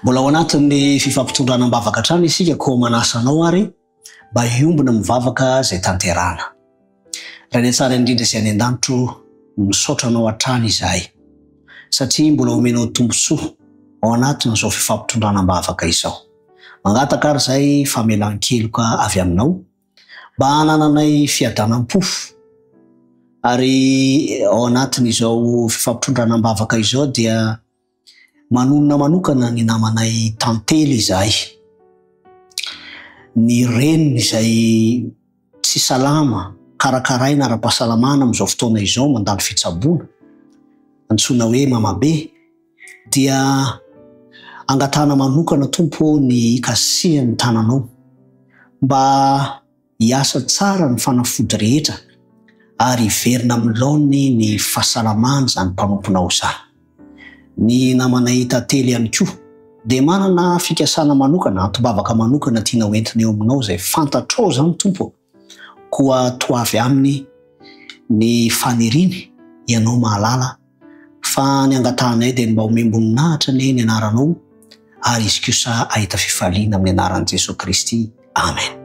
Mbola ao anatin'ny fifampitondrana am-bavaka hatrany isika koa manasa anao ary mba hiombona amin'ny vavaka izay tanterahana. Ray any an-tsary indrindra sy any an-danitro o, misaotra Anao hatrany izahay satria mbola omenao tombontsoa ao anatin'izao fifampitondrana am-bavaka izao. Mangataka ary izahay famelan-keloka avy Aminao, mba hanananay fiadanam-po ary ao anatin'izao fifampitondrana am-bavaka izao dia manonona manokana ny namanay Tantely izahay, ny reniny izay tsy salama karakaraina ara-pahasalamana amin'izao fotoana izao mandalo fitsaboana antsoina hoe mamabe. dia angatahana manokana tompo ô ny hikasihan'ny tananao mba hiasa tsara ny fanafody rehetra ary hiverina amin'ny laoniny ny fahasalamàn'izany mpanomponao izany. Ny namanay tantely ihany koa dia manana fikasana manokana, antom-bavaka manokana tiana hoentina eo aminao izay fantatrao izany tompo ô. Koa toa avy aminy ny faniriany ianao mahalala fa ny angatahanay dia ny mba homem-boninahitra anie ny anaranao ary izy kosa hahita fifaliana amin'ny anaran'i Jesoa Kristy. Amen.